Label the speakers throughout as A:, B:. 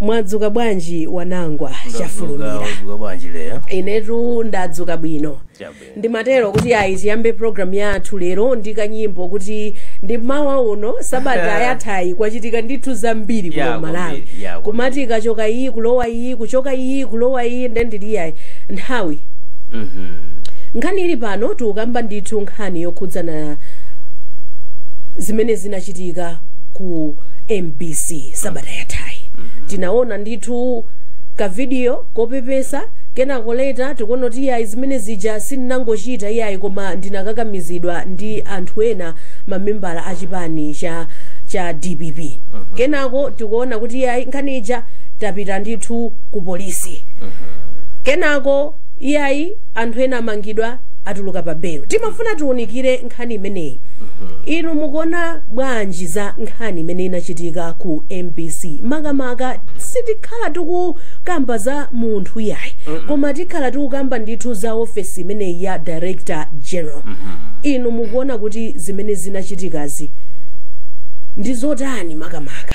A: mwadzuka bwanji wanangwa chafulumira mwadzuka bwanji
B: lero inetu
A: ndadzuka bwino Chabwino. ndimatero kuti ayi tiyambe programu yathu lero ndi kanyimbo kuti ndi mawa uno sabata yathayi kwachitika ndithu zambiri kuno Ya, malawi kwambiri, ya, kwambiri. kumati ikachoka iyi kulowa iyi kuchoka iyi kulowa iyi nde ndiliyayi nthawi Mhm. nkhani ili pano tikukamba ndithu nkhani yokhudzana zimene zinachitika ku mbc sabata yathayi tinaona ndithu kavidiyo kopepesa kenako leta tikuona kuti iyayi zimene zija sindinangochita iyayi koma ndinakakamizidwa ndi anthu ena mamembala a chipani cha dpp kenako tikuona kuti iyayi nkhani ija tapita ndithu ku polisi kenako iyayi anthu ena amangidwa atuluka pa belo timafuna tiunikire nkhani imeneyi inu mukuona bwanji za nkhani imene inachitika ku mbc makamaka sitikhala tikukamba za munthu yayi koma tikhala tikukamba ndithu za ofesi imeneyi ya director general inu mukuona kuti zimene zinachitikazi ndi zotani makamaka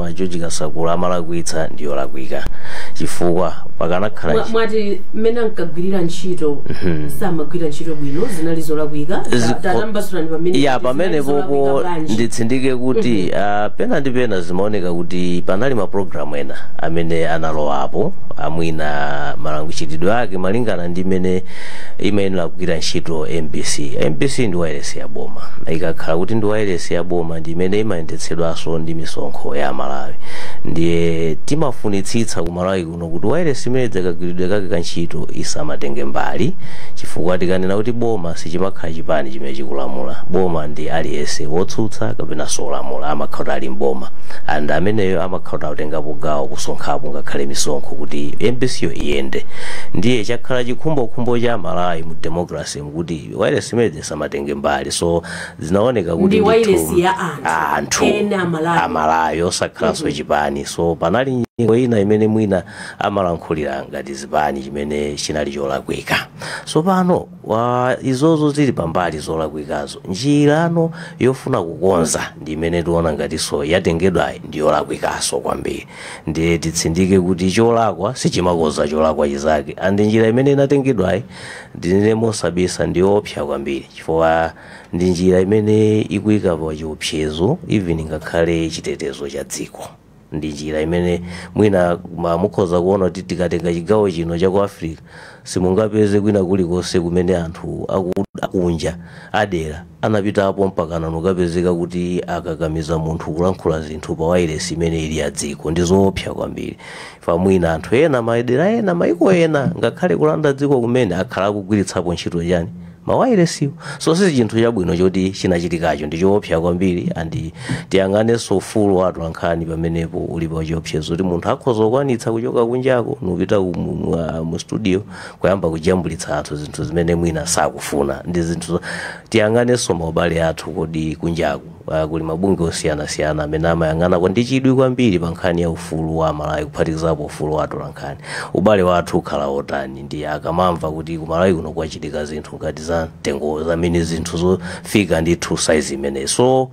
B: a george kasakula amalakwitsa ndi yolakwika chifukwa pakanakhala Mwa- mwati
A: mmene ankagwirira ntchito samagwira ntchito bwino zinali zolakwika Ta- Zikho- tatambasulani pamene ya kuti pamene zinali zolakwika
B: popo bwanji. nditsindike kuti ah, pena ndi pena zimaoneka kuti panali mapulogalamu ena amene analowapo mwina malanguchitidwe ake malingana ndi mmene imayenera kugwira ntchito mbc mbc ndi wailesi ya boma ikakhala kuti ndi wailesi ya boma ndi imene ima imayendetsedwanso ndi misonkho ya amalawi ndiye timafunitsitsa ku malawi kuno kuti wairesi imene pakagwiridwe kake ka ntchito isamatenge mbali chifukwa tikanena kuti boma sichimakhala chipani chimene chikulamula boma ndi aliyense wotsutsa kapenanso olamula amakhala kuti ali mboma and ameneyo amakhala kuti akutengapo gawo kusonkhapo ngakhale misonkho kuti mbc yo iyende ndiye chakhala chikhumbokhumbo cha amalawi mu democracy kuti wairesi imene isamatenge mbali so zinaoneka kuti Ndi ndithu, wailesi ya
A: anthu. ah, anthu
B: Ena amalawi. amalawi osakhalanso chipani so panali nyengo ina imene mwina amalankhulira ngati zipani chimene chinali cholakwika so pano izozo zili pambali zolakwikazo njirano yofuna kukonza ndi imene tiona ngatinso yatengedwayi ndi yolakwikaso kwambiri ndiye titsindike kuti cholakwa sichimakonza cholakwa chizake andi njira imene inatengedwayi ndinene mosabisa ndi yoopsa kwambiri chifukwa ndi njira imene ikuika pa chiopsezo even ngakhale chitetezo cha dziko ndi njira imene mwina ma- mukhoza kuona kuti tikatenga chigawo chino cha ku africa simungapeze kwina kulikonse kumene anthu aku- akunja adera anapitapo mpakana nkukapezeka kuti akakamiza munthu kulankhula zinthu pa wailesi imene ili ya dziko ndi zoopsa kwambiri fa mwina anthu ena madera ena maiko ena ngakhale kulanda dziko kumene akhala akugwiritsapo ntchito chani mawailesiwo so si chinthu chabwino choti chinachitikacho ndi choopsa kwambiri and tiyang'anenso ufulu wa atolankhani pamenepo uli pa chiopsezo kuti munthu akhoza kukwanitsa kuchoka kunjako nkupita ku- mu- mu- ah, mu studio kuyamba kujambulitsa anthu zinthu zimene mwina sakufuna ndi zinthu zo- tiyang'anenso maubale athu kodi kunjaku a kuli mabungwe osiyanasiyana amene amayang'anako ndi chidwi kwambiri pa nkhani ya ufulu wa Amalawi kuphatikizapo ufulu wa atolankhani. Ubale wathu ukhala wotani ndi akamamva kuti ku Malawi kuno kwachitika zinthu ngati za mtundu zimene zinthu zofika ndithu size imeneyi. So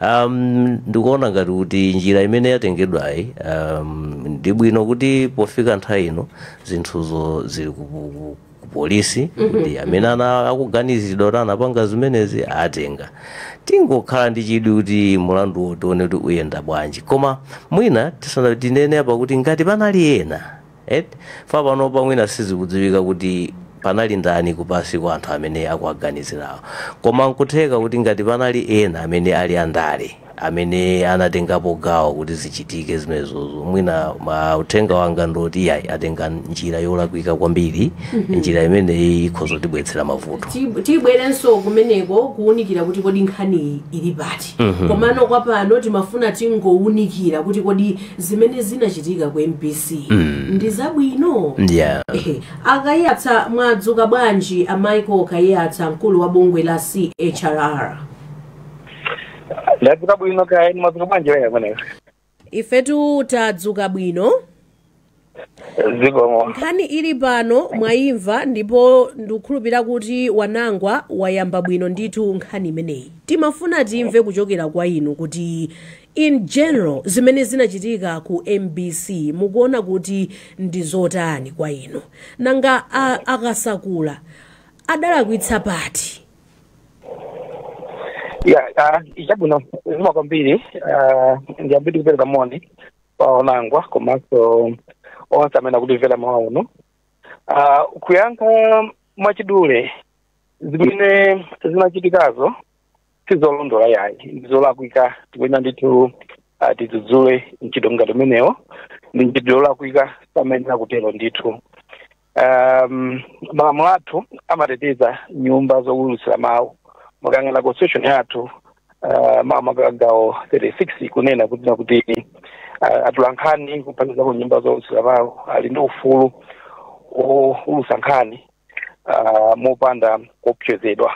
B: um, ndikuona ngati kuti njira imene yatengedwayi um, ndi bwino kuti pofika nthawi ino zinthuzo zili ku- ku- ku polisi kuti amene ana akuganizidwa kuti anapanga zimenezi atenga tingokhala ndi chidwi kuti mulanduwo tione kuti uyenda bwanji koma mwina tisa- tinene apa kuti ngati panali ena et fa panopa mwina sizikudziwika kuti panali ndani kupansi kwa anthu amene akuwaganizirawo koma nkutheka kuti ngati panali ena amene ali andale amene anatengapo gawo kuti zichitike zimenezozo mwina ma uthenga wanga ndoti iyayi atenga njira yolakwika kwambiri njira imeneyi ikhoza kutibweretsera mavuto Ti- tibwerenso
A: kumeneko kuwunikira kuti kodi nkhaniyi ili pati komano kwa pano timafuna tingowunikira kuti kodi zimene zinachitika ku mbc ndi zabwino yeah. Ehe, a Kaiyatsa mwadzuka bwanji a michael kaiyatsa mkulu wa bungwe la chrr
C: ndadzuka bwino kaya inu mwadzuka bwanji wena kumeneko
A: ifetu tadzuka bwino zikomo
C: nkhani ili pano
A: mwayimva ndipo ndikukhulupirira kuti a Wonangwa wayamba bwino ndithu nkhani imeneyi timafuna timve kuchokera kwa inu kuti in general zimene zinachitika ku mbc mukuona kuti ndi zotani kwa inu nanga a- a Kasakula adalakwitsa pati
C: ya ah, chabwino zikomo kwambiri ah, ndiyambe ndikupereka moni kwa Wonangwa komanso onse amene akutimvera mawa uno Ah, kuyankha mwachidule zimene zinachitikazo sizolondola yayi ndizolakwika tikuyenera ndithu ah, tidzudzule mchitidwe ngati umenewo ndi mchitidwe olakwika samayenera kutero ndithu um, malamulo athu amateteza nyumba zowulutsira mawu mukayang'ana constitution yathu uh, makamaka gawo 36 kunena kuti nakuti uh, atolankhani kuphatikizapo nyumba zowulutsira mawu ali ndi ufulu owulutsa nkhani uh, mopanda kuopsezedwa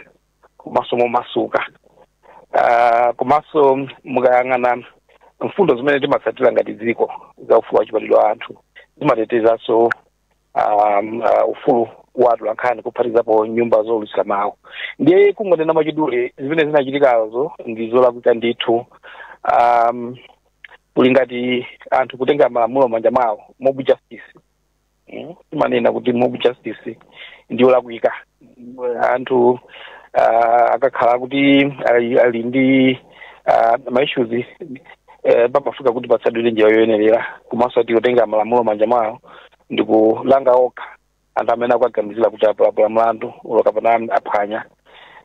C: komanso momasuka Ah, komanso mukayang'ana mfundo zimene timatsatira ngati dziko za ufulu wa chibadwidwe wa anthu zimatetezanso um, uh, ufulu wa atolankhani kuphatikizapo nyumba zoulutsira mawu ndiye kungonena mwachidule zimene zinachitikazo ndi zolakwika ndithu um, kuli ngati anthu kutenga malamulo m'manja mwawo mob justice Mm, timanena kuti mob justice ndi yolakwika anthu ah, akakhala kuti ali ali ndi ah, maissues eh, pamafunika kuti patsatidwe njira yoyenerera komanso osati kutenga malamulo m'manja mwawo ndi kulanga okha anthu amene akuwaganizira kuti apalamula mlandu ulo kapena aphwanya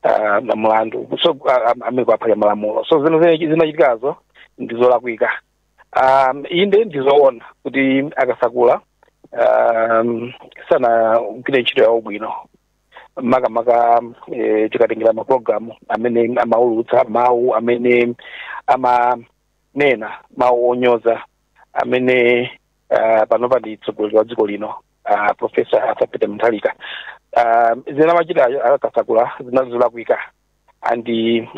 C: ah, na mlandu so ah, ah, amene akuphwanya malamulo so zimene zinachitikazo ndi zolakwika um, inde ndizoona kuti a Kasakula um, sanagwire ntchito yawo bwino makamaka eh, tikatengera mapulogalamu amene amaulutsa mawu amene amanena mawu onyoza amene uh, panopa ndi mtsogoleri wa dziko lino uh, profesa arthur peter mutharika uh, zimene amachita a Kasakula zinali zolakwika and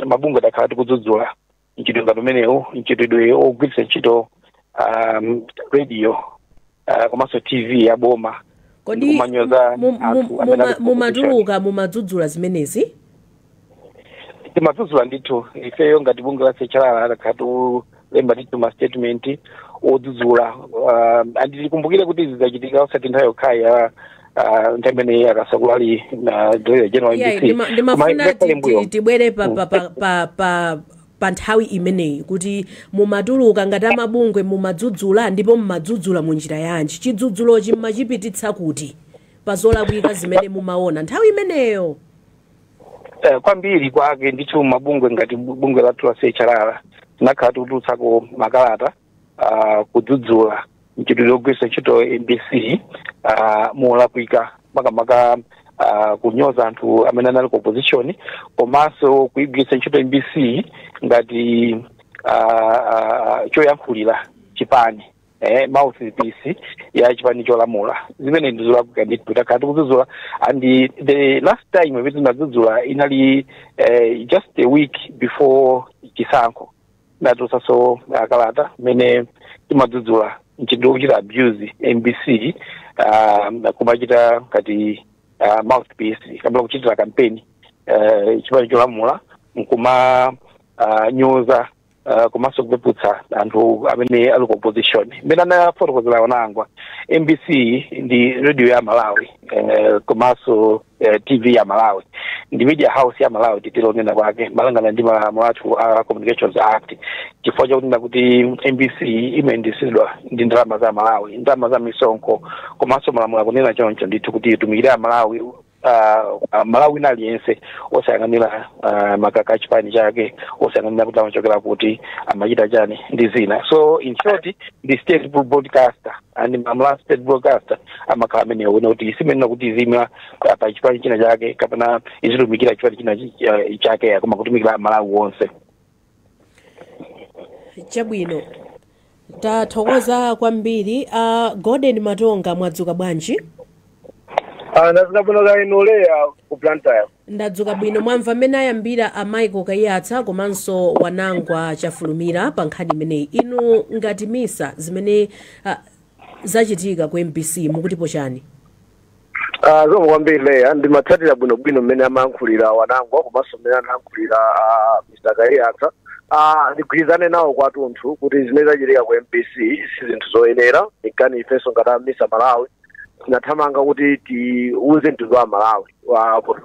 C: mabungwe takhala tikudzudzula mchitidwe ngati umenewu mchitidwe ogwiritsa ntchito um, radio uh, komanso tv ya boma kodi kumanyoza mu-
A: mu- anthu amene muma- ali mumatuluka mumadzudzula zimenezi timadzudzula
C: ndithu ifeyo ngati bungwe la CHRR takhala lemba ndithu ma statement odzudzula uh, and tikumbukire kuti izi zachitika osati nthawi yokhayi ya uh, nthawi imene a Kasakula anali director general Yeah, mbc ndima- Koma ndimafuna ngakhale ti- mbuyo.
A: ti- tibwere pa- pa- pa- pa- pa- pa nthawi imeneyi kuti mumatuluka ngati amabungwe mumadzudzula ndipo mumadzudzula mu njira yanji chidzudzulochi mmachipititsa kuti pa zolakwika zimene mumaona nthawi imeneyo
C: Eh, kwambiri kwake ndithu mabungwe ngati bu- bungwe lathu la CHRR tinakhala tikutulutsako makalata ah, kudzudzula mchitidwe wogwiritsa ntchito mbc ah, molakwika makamaka ah, kunyoza anthu amene anali ku opposition komanso kuigwiritsa ntchito mbc ngati ah, ah, choyankhulira chipani eh, mouthpiece ya chipani cholamula zimene ndizolakwika ndithu takhala tikudzudzula and the last time imene tinadzudzula inali eh, just a week before chisankho tinatulutsaso kalata imene timadzudzula mchitidwe wochita abuse mbc uh, kumachita ngati uh, mouthpiece kapena kuchitira kampeni uh, chipani cholamula nkuma uh, nyoza uh, komanso kupeputsa anthu amene ali ku opposition mmene anafotokozera wanangwa mbc ndi radio ya malawi eh, komanso eh, tv ya malawi ndi media house ya malawi titero kunena kwake malingana ndi malamulo athu a communications act chifukwa chakunena kuti mbc imayendetsedwa ndi ndalama za malawi ndalama za misonkho komanso malamulo akunena choncho ndithu kuti itumikire amalawi uh, malawi wina aliyense osayang'anira uh, makaka a chipani chake osayang'anira kuti amachokera kuti amachita chani ndi zina so in short the state broadcaster and normally a state broadcaster amakhala a minawa wina kuti isimenena kuti iziima pa- pa chipani china chake kapena izitumikira chipani china chi- eh, chake koma kutumikira malawi wonse
A: chabwino tathokoza kwambiri a golden matonga mwadzuka bwanji
D: ndadzuka bwino kaya inu leah ku blantyre ndadzuka
A: bwino mwamva mmene ayambira a michael kaiyatsa komanso wanangwa chafulumira pa nkhani imeneyi inu ngati misa zimene ah, zachitika ku mbc mukutipo chani
D: Ah, zikomo kwambiri leah ndimatsatira bwinobwino mmene amayankhulira wanangwa komanso mmene anayankhulira ah, mr kaiyatsa Ah, ndigwirizane nawo kwathunthu kuti zimene zachitika ku mbc si zinthu zoyenera nkana ifenso ngati a misa malawi tinathamanga kuti tiuze mtundu wa malawi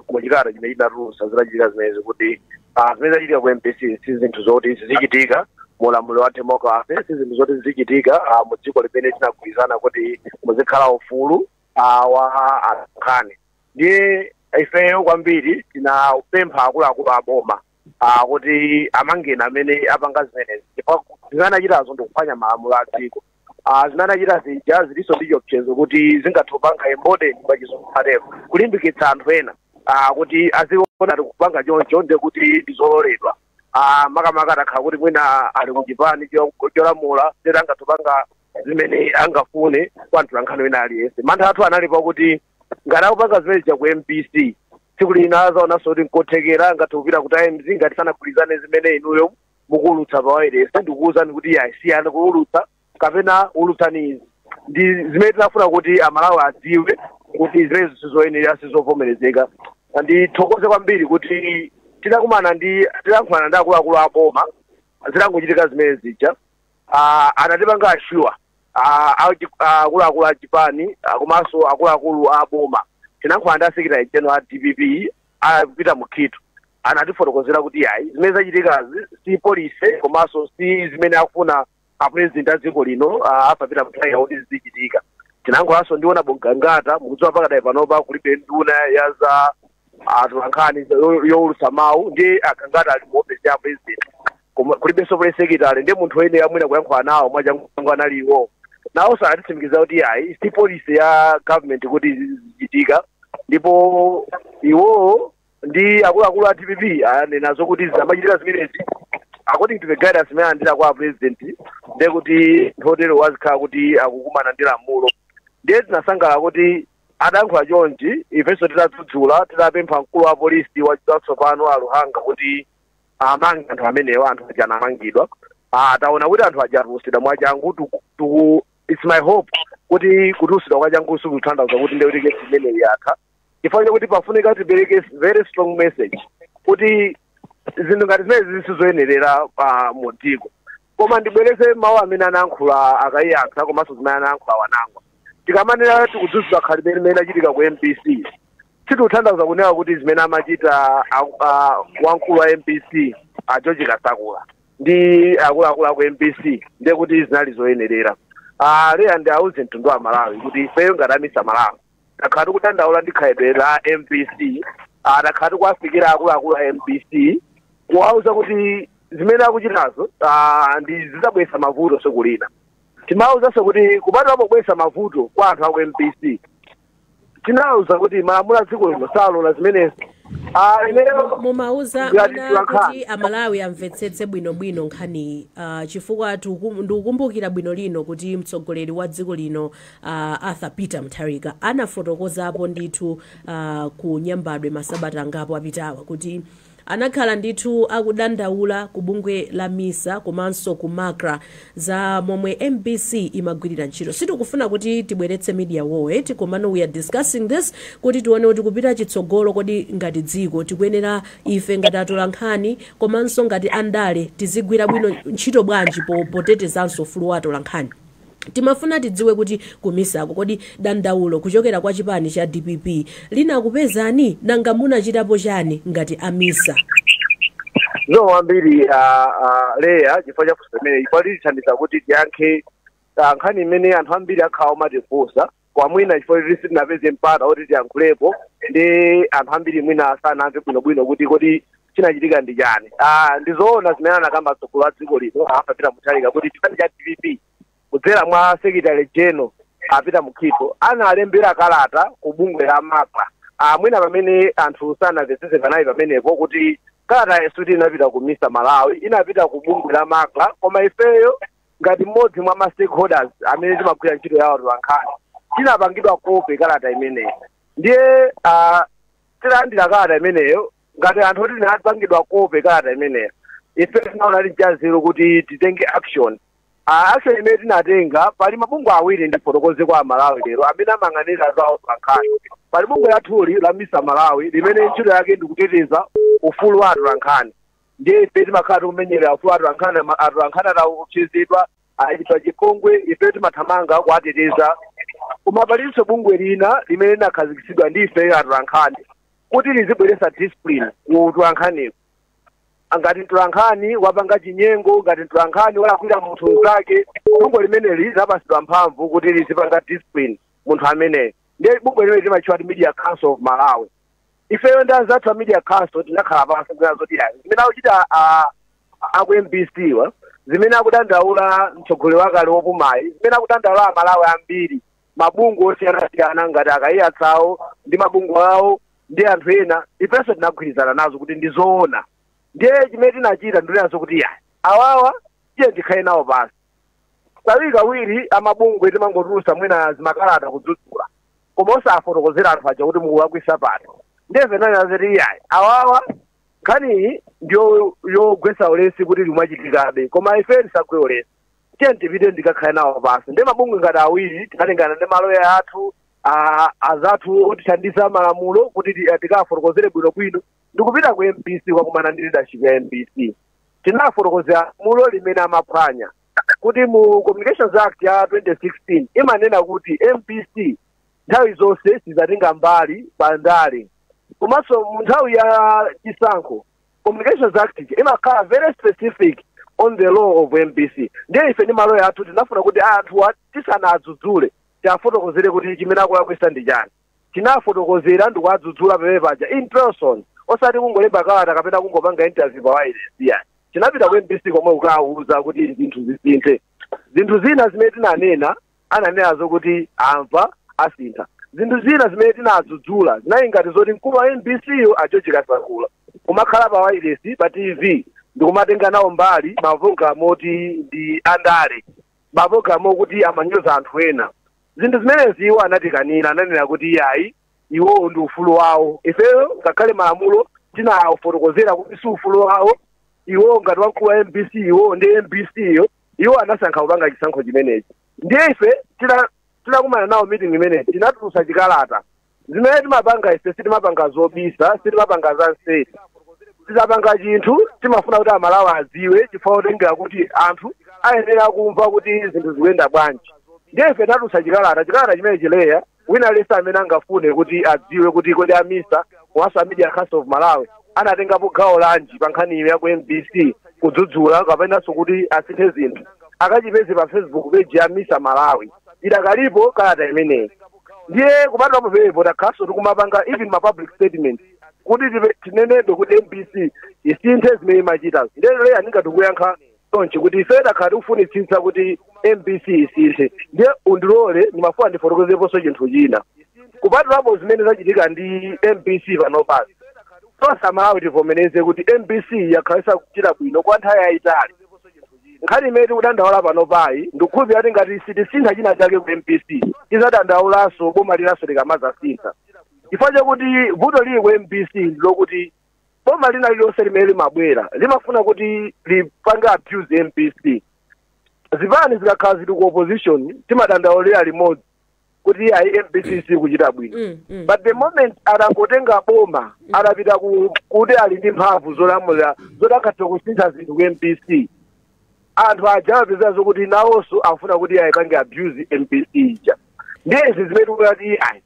D: mu chikalata chimene tinatulutsa zitachitika zimenezi kuti Ah, zimene zachitika ku mbc si zinthu zoti zizichitika mu ulamuliro wa democracy si zinthu zoti zizichitika ah, mu dziko limene tinagwirizana kuti muzikhala ufulu ah, wa atolankhani ndiye ifeyo kwambiri tinapempha akuluakulu a boma ah, kuti amange anthu amene apanga zimenezi ndipo zimene anachitazo ndikuphwanya malamulo a dziko ah, zimene anachita zija zilinso ndi chiopsezo kuti zingathe kupanga embolden pa chizungu atero kulimbikitsa anthu ena ah, kuti aziona kuti kupanga choncho ndi kuti ndizololedwa Ah, makamaka atakhala kuti mwina ali ku chipani cho- cholamula ndiye kuti angathe kupanga zimene angafune kwa mtolankhani wina aliyense mantha athu anali pakuti ngati akupanga zimene zija ku mbc tsiku lina azaonanso kuti nkotheka angathe kupita ku times ngati sanagwirizane ndi zimene inuyo mukuulutsa pa wailesi ndikuwuzani kuti siyani kuulutsa kapena ulutsani izi ndi zimene tinafuna kuti amalawi adziwe kuti zimenezo sizoyenera sizovomerezeka ndithokoze kwambiri kuti tinalankhulana ndi tinalankhulana ndi akuluakulu a boma zitangochitika zimene zija Ah, anatipanga ashuwa Ah, achi- ah, akuluakulu a chipani ah, komanso akuluakulu a boma tinalankhulana ndi asekitali general a dpp a Peter Mukhito anatifotokozera kuti yayi zimene zachitikazi si policy komanso si zimene akufuna apurezidenti a dziko lino ah, a Peter Mutharika kuti zizichitika tinayankhulanso ndi honourable Gangata mukudziwa pakadali panopa kulibe nduna ya za atolankhani yo- youlutsa mawu ndi agangata ali mu ofesi ya purezidenti Koma kulibenso press secretary ndiye munthu amene timayenera kuyankhula nawo mwachangu anali iwo nawonso anatitsimikizira kuti yayi si policy ya government kuti zizichitika ndipo iwowo ndi akuluakulu a dpp anena zokuti zikamachitika zimenezi according to the guidance imene alandira kwa president ndiye kuti munthu wotero azikhala kuti akukumana ndi lamulo ndiye tinasangalala kuti adankhula chonchi ifenso tidadzudzula tidapempha mkulu wa polisi watsopano a Luhanga kuti amange anthu amenewa anthu aja anamangidwa Ah, taona kuti anthu aja atulusidwa mwachangu tuku- tuku- its my hope kuti kutulusidwa kwachangu sikutanthauza kuti ndekuti kesi imeneyi yatha chifukwa chakuti pafunika tipereke s- very strong message kuti zinthu ngati zimenezi sizoyenerera pa mu dziko koma ndibwereze mawu amene anayankhula a Kaiyatsa komanso zimene anayankhula Wanangwa tikamanena tikudzudzula khalidwe limene linachitika ku mbc sitikutanthauza kunena kuti zimene amachita a- a- wamkulu wa mbc a george kasakula ndi akuluakulu aku mbc ndiye kuti zinali zoyenerera Ah, leya ndiwauze mtundu wa malawi kuti ifeyo ngati a MISA malawi takhala tikudandaula ndi khalidwe la mbc ah, takhala tikuwafikira akuluakulu a mbc kuwauza kuti zimene akuchitazo ah, ndiye zizabweretsa mavuto tsiku lina timawauzanso kuti kupatula pobweretsa mavuto kwa anthu aku mbc tinawauza kuti malamulo a dziko lino salola zimenezo Ah,
A: imeneyo mumawauza Ngati ana tiwakhala. kuti amalawi amvetsetse bwinobwino nkhaniyi uh, chifukwa tiku- ndikukumbukira bwino lino kuti mtsogoleri wa dziko lino a Arthur Peter Mutharika anafotokozapo ndithu a, ku Nyambadwe masabata angapo apitawa kuti anakhala ndithu akudandaula ku bungwe la MISA komanso ku MACRA za momwe MBC imagwirira ntchito. Sitikufuna kuti tibweretse media war eti komano we are discussing this kuti tione kuti kupita chitsogolo kodi ngati dziko tikuyenera ife ngati atolankhani komanso ngati andale tizigwira bwino ntchito bwanji po- potetezanso ufulu wa atolankhani. Timafuna tidziwe kuti ku misa ko kodi dandaulo kuchokera kwa chipani cha dpp linakupezani? Nanga munachitapo chani ngati a misa?
D: Zikomo kwambiri a a Leya chifukwa cha funso limeneli chifukwa litithandiza kuti tiyankhe ah, nkhani imene anthu ambiri akhala omatifunsa kwa mwina chifukwa choti sitinapeze mpata oti tiyankhulepo ndi anthu ambiri mwina sanamve bwinobwino kuti kodi chinachitika ndi chani Ah, ndi zoona zimene anakamba mtsogoleri wa dziko lino arthur peter mutharika kuti chipani cha dpp kudzera mwa secretary general a peter mukhito analembera kalata ku bungwe la macra Ah, mwina pamene anthu sanamvetsetse panali pamenepo kuti kalatayo sikuti inapita ku misa malawi inapita ku bungwe la macra koma ifeyo ngati mmodzi mwa ma stakeholders amene timagwira ntchito ya atolankhani tinapangidwa kope kalata imeneyi ndiye ah, titalandira kalata imeneyo ngati anthu oti tinapangidwa kope kalata imeneyo ife tinaona chili chanzeru kuti titenge action Ah, action imene tinatenga pali mabungwe awiri ndifotokoze kwa amalawi lero amene amayang'anira za atolankhani pali bungwe lathuli la misa malawi limene ntchito yake ndikuteteza ufulu wa atolankhani ndiye ife timakhala tikumenyera ufulu wa atolankhani ma- atolankhani ataopsezedwa atachitidwa chipongwe ife timathamanga kuwateteza koma palinso bungwe lina limene linakhazikitsidwa ndi ife atolankhani kuti lizibweretsa discipline ku utolankhaniku ngati mtolankhani wapanga chinyengo ngati mtolankhani walakwira munthu mnzake bungwe limeneli linapatsidwa mphamvu kuti lizipanga discipline munthu ameneyo ndiye bungwe limeneli limatchedwa kuti media council of malawi ifeyo ndi anzathu a media council tinakhala pansi kunena zoti iyayi zimene akuchita a- a- aku mbc wa zimene akudandaula mtsogoleri wakale wopumayi zimene akudandaula amalawi ambiri mabungwe osiyanasiyana ngati akayiyatsawo ndi mabungwe awo ndi anthu ena ifenso tinagwirizana nazo kuti ndi zoona ndiye chimene tinachita ndi kunena zoti iyayi awawa tiye tikhale nawo pansi kawiri kawiri amabungwe timangotulusa mwina zimakalata kudzudzula koma osafotokozera anthu aja kuti mukulakwisa pati ndiye ife tinanena zoti iyayi awawa nkhaniyi ndiyo yogwesa ulesi kuti zimachitikabe koma ife tisagwe ulesi tiyeni tipite tikakhale nawo pansi ndiye mabungwe ngati awiri tinatengana ndi maloya athu a- azathu otithandiza malamulo kuti ti- tikafotokozere bwinobwino ndikupita ku mbc kukakumana ndi leadership ya mbc tinafotokozera lamulo limene amaphwanya kuti mu communications act ya 2016 imanena kuti mbc nthawi zonse isamatenge mbali pa ndale komanso mu nthawi ya chisankho communications act imakhala very specific on the role of mbc ndiye ife ndi maloya athu tinafuna kuti anthu tisanadzudzule tiafotokozere kuti chimene akulakwisa ndi chani tinawafotokozera ndikuwadzudzula pamene paja in person osati kungolemba kalata kapena kungopanga interview pa wireless iya tinapita ku mbc komwe kukawauza kuti zinthu zisinthe zinthu zina zimene tinanena ananenazo kuti amva asintha zinthu zina zimene tinadzudzula zinali ngati zoti mkulu wa mbc yo a george kasakula kumakhala pa wireless pa tv ndikumatenga nawo mbali mapulogalamu oti ndi andale mapulogalamu okuti amanyoza anthu ena Zinthu zimenezi iwo anatikanira, ananena kuti iyayi, iwowo ndi ufulu wawo. Ifeyo ngakhale malamulo tinawafotokozera kuti si ufulu wawo, iwowo ngati wamkulu wa mbc, iwowo ndi mbc yo, iwo anasankha kupanga chisankho chimenechi. Ndiye ife tita- titakumana nawo meeting imeneyi tinatulutsa chikalata zimene timapanga ife sitimapanga zobisa sitimapanga za nseri tikapanga chinthu timafuna kuti amalawi adziwe chifukwa kutengera kuti anthu ayenera kumva kuti zinthu zikuyenda bwanji ndiye ife tinatulutsa chikalata chikalata chimenechi leya wina aliyense amene angafune kuti adziwe kuti kodi a misa komanso a media council of malawi anatengapo gawo lanji pa nkhani iyo ya ku mbc kudzudzula kapenanso kuti asinthe zinthu akachipeze pa facebook page ya misa malawi idakalipo kalata imeneyi ndiye kupatula pamenepo takhalanso tikumapanga even ma public statement kuti tive- tinenebe kuti mbc isinthe zimene imachita ndiye leya ndingathe kuyankha chonchi kuti ife takhala tikufunitsitsa kuti mbc isinthe ndiye undilole ndimafuna ndifotokozeponso chinthu china kupatulapo zimene zachitika ndi mbc panopazi tonse amalawi tivomereze kuti mbc yakhala isakuchita bwino kwa nthawi yayitali Nkhani imene tikudandaula panopayi ndikukhulupirira kuti ngati sitisintha china chake ku MBC tidzadandaulanso boma linanso likamadzasintha chifukwa chakuti vuto lili ku MBC ndilokuti boma lina lililonse limene limabwera limafuna kuti lipange abuse MBC zipani zikakhala zili ku opposition timadandaulira limodzi kuti ayi mbc sikuchita bwino Mm, mm. but the moment anangotenga boma anapita ku- kuti ali ndi mphamvu zolamulira zoti akatha kusintha zinthu ku mbc anthu aja amapeza zokuti nawonso afuna kuti ayipange abuse mbc ija ndiye izi zimene tikati ayi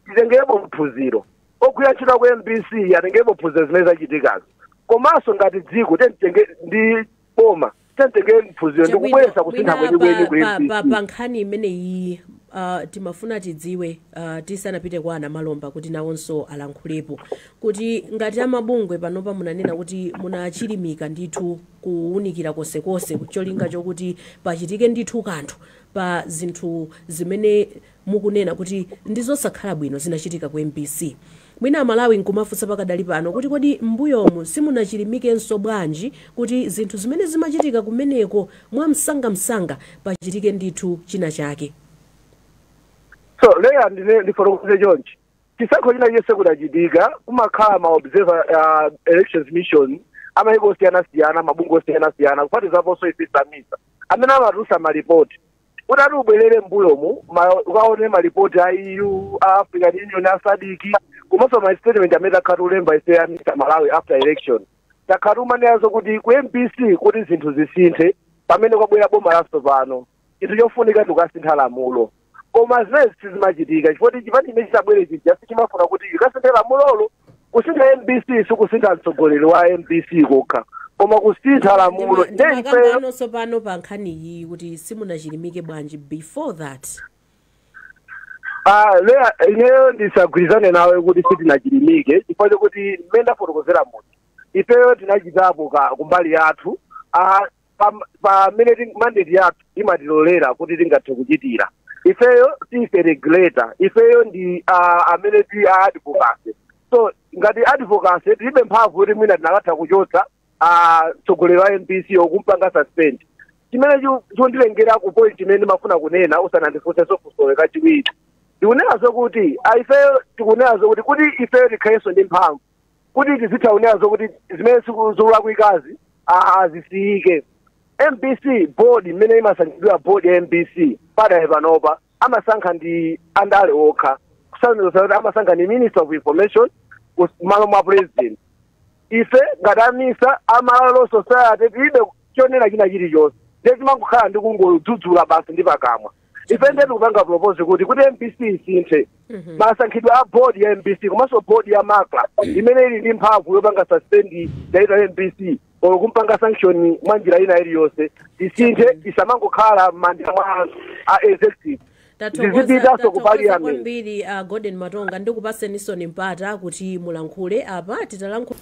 D: titengerepo phunziro ogwira ntchito ku mbc atengerepo phunziro zimene zachitikazo komanso ngati dziko titenge ndi boma titenge phunziro ndi Chabwino, kubweretsa kusintha mwina kwenikweni ku pa- pa- pa- MBC. pa nkhani
A: imeneyi ah, timafuna tidziwe ah, tisanapite kwa a Namalomba kuti nawonso alankhulepo kuti ngati amabungwe panopa munanena kuti munachilimika ndithu kuwunikira konsekonse cholinga chokuti pachitike ndithu kanthu pa zinthu zimene mukunena kuti ndizosakhala bwino zinachitika ku mbc mwina amalawi nkumafunsa pakadali pano kuti kodi mmbuyomu simunachilimikenso bwanji kuti zinthu zimene zimachitika kumeneko mwamsangamsanga pachitike ndithu china chake.
D: So leya ndifotokoze chonchi chisankho china chonse chikachitika kumakhala ma observer uh, elections mission amayiko osiyanasiyana mabungwe osiyanasiyana kuphatizaponso ife a misa amene amatulutsa malipoti utati ubwerere mbuyomu ma- ukaone malipoti a eu a african union a sadc komanso ma statement amene takhala tikulemba ife a misa malawi after election takhala tikunena zokuti ku mbc kuti zinthu zisinthe pamene kwabwera boma latsopano chinthu chofunika ndi kusintha lamulo koma zimene sizimachitika chifukwa chipani chimene chabwera chija sichimafuna kuti ikasinthe lamulolo kusintha mbc sikusintha mtsogoleri wa mbc kokha koma kusintha lamulo nde ifeyo ndimakambano tsopano
A: pa nkhani iyi kuti simunachilimike bwanji before that
D: Ah, leya ineyo ndisagwirizane nawe kuti sitinachilimike chifukwa chokuti mmene ndafotokozera kuti ifeyo tinachitapo kumbali yathu ah, pam- pamene ting- mandate yathu imatilolera kuti tingathe kuchitira ifeyo si ife regulator ifeyo ndi ah, amene ti a advocacy so ngati advocacy tilibe mphamvu kuti mwina tinakatha kuchotsa ah, mtsogoleri wa mbc or kumpanga suspend chimene chu- chikunditengera ku point imene ndimafuna kunena usanandifunsenso funso kachiwiri ndikunena zokuti ah, ifeyo tikunena zokuti kuti ifeyo tikhalenso ndi mphamvu kuti tizitha kunena zokuti zimene ziku- zikulakwikazi a- azisiyike mbc board mmene imasankhidwira board ya mbc pakadali panopa amasankha ndi andale okha kusanzesa kuti amasankha ndi minister of information kus- mmalo mwa president ife ngati a misa ama civil society tilibe chonena china chilichonse ndiye timangokhala ndi kungodzudzula basi ndi pakamwa ife ndiye tikupanga propose kuti kuti mbc isinthe masankhidwe a board ya mbc komanso board ya macra imene ili ndi mphamvu yopanga suspend director wa mbc or kumpanga sanction mwa njira ina iliyonse isinthe isamangokhala m'manja mwa a executive zizipitanso
A: ku parliament kwambiri uh, golden matonga ndikupatseninso mpata kuti mulankhule apa titalankhula